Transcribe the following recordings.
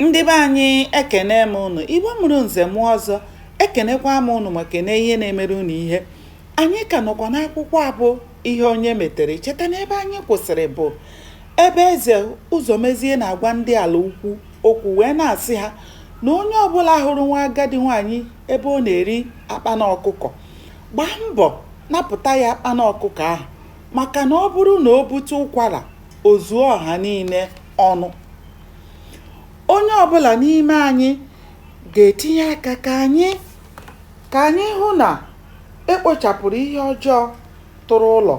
Ndị be anyị ekene m ụnụ, Igbo mụrụ nze mụọ ọzọ, ekenekwa m ụnụ ma kene ihe na-emere ụnụ ihe. Anyị ka nọkwa n'akwụkwọ a bụ ihe onye metere. Cheta na ebe anyị kwụsịrị bụ ebe eze Ụzọmezie na-agwa ndị ala ukwu okwu wee na-asị ha na onye ọbụla hụrụ nwa agadi nwaanyị ebe ọ na-eri akpana ọkụkọ gbaa mbọ napụta ya akpana ọkụkọ ahụ maka na ọ bụrụ na o bute ụkwara o zuo ọha niile ọnụ onye ọbụla n'ime anyị ga-etinye aka ka anyị ka anyị hụ na e kpochapụrụ ihe ọjọọ tụrụ ụlọ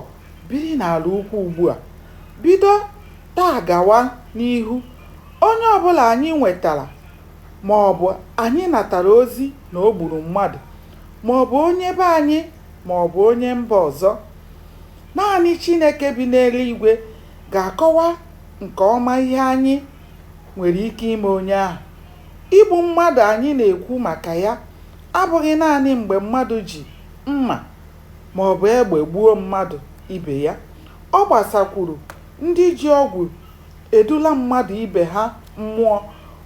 biri n'ala ukwu ugbu a bido taa gawa n'ihu onye ọbụla anyị nwetara ma ọ bụ anyị natara ozi na o gburu mmadụ ma ọ bụ onye be anyị ma ọ bụ onye mba ọzọ naanị Chineke bi n'eluigwe ga-akọwa nke ọma ihe anyị nwere ike ime onye ahụ. Igbu mmadụ anyị na-ekwu maka ya abụghị naanị mgbe mmadụ ji mma ma ọ bụ egbe gbuo mmadụ ibe ya. Ọ gbasakwuru ndị ji ọgwụ edula mmadụ ibe ha mmụọ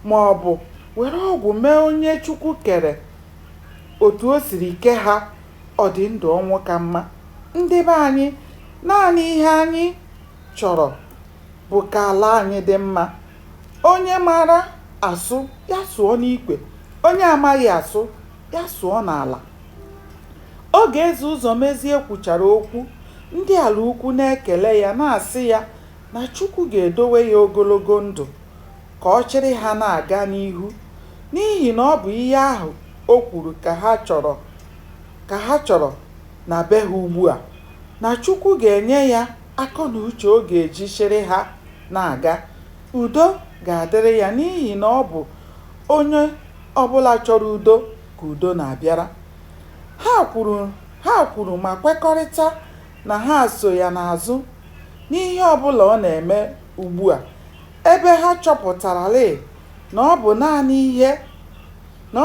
ma ọ bụ were ọgwụ mee onye Chukwu kere otu o siri kee ha Ọ dị ndụ ọnwụ ka mma. Ndị be anyị, naanị ihe anyị chọrọ bụ ka ala anyị dị mma. Onye mara asụ, ya sụọ n'ikwe. Onye amaghị asụ, ya sụọ n'ala. Oge Eze Ụzọmezie kwuchara okwu, ndị Alaukwu na-ekele ya na-asị ya na Chukwu ga-edowe ya ogologo ndụ ka ọ chịrị ha na-aga n'ihu n'ihi na ọ bụ ihe ahụ o kwuru ka ha chọrọ na be ha ugbua, na Chukwu ga-enye ya akọ na uche ọ ga-eji chịrị ha na-aga. Udo ga-adịrị ya n'ihi na ọ bụ onye ọbụla chọrọ udo ka udo na-abịara. Ha kwuru ma kwekọrịta na ha so ya n'azụ n'ihe ọbụla ọ na-eme ugbua. ebe ha chọpụtarala na ọ bụ naanị ihe na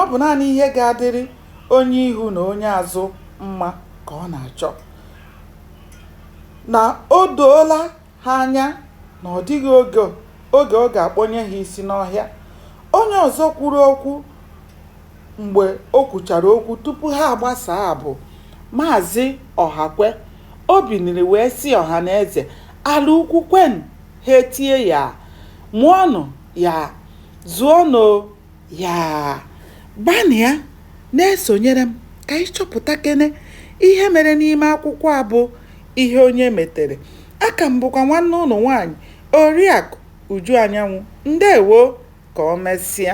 ọ bụ naanị ihe ga-adịrị onye ihu na onye azụ mma ka ọ na-achọ na o doola ha anya na ọ dịghị oge ọ ga-akpọnye ha isi n'ọhịa onye ọzọ kwuru okwu mgbe o kwuchara okwu tupu ha agbasaa bụ Maazị Ọhakwe o biniri wee sị ọha na eze ala ukwu kwenụ Ha etie ya, Mụọnụ ya, zụọnụ ya. Gbanịa na-esonyere m ka anyị chọpụtakene ihe mere n'ime akwụkwọ a bụ Ihe Onye Metere. Aka m bụkwa nwanne ụnụ nwaanyị, Oriakụ Uju Anyanwụ. Ndewo! Ka o mesịa.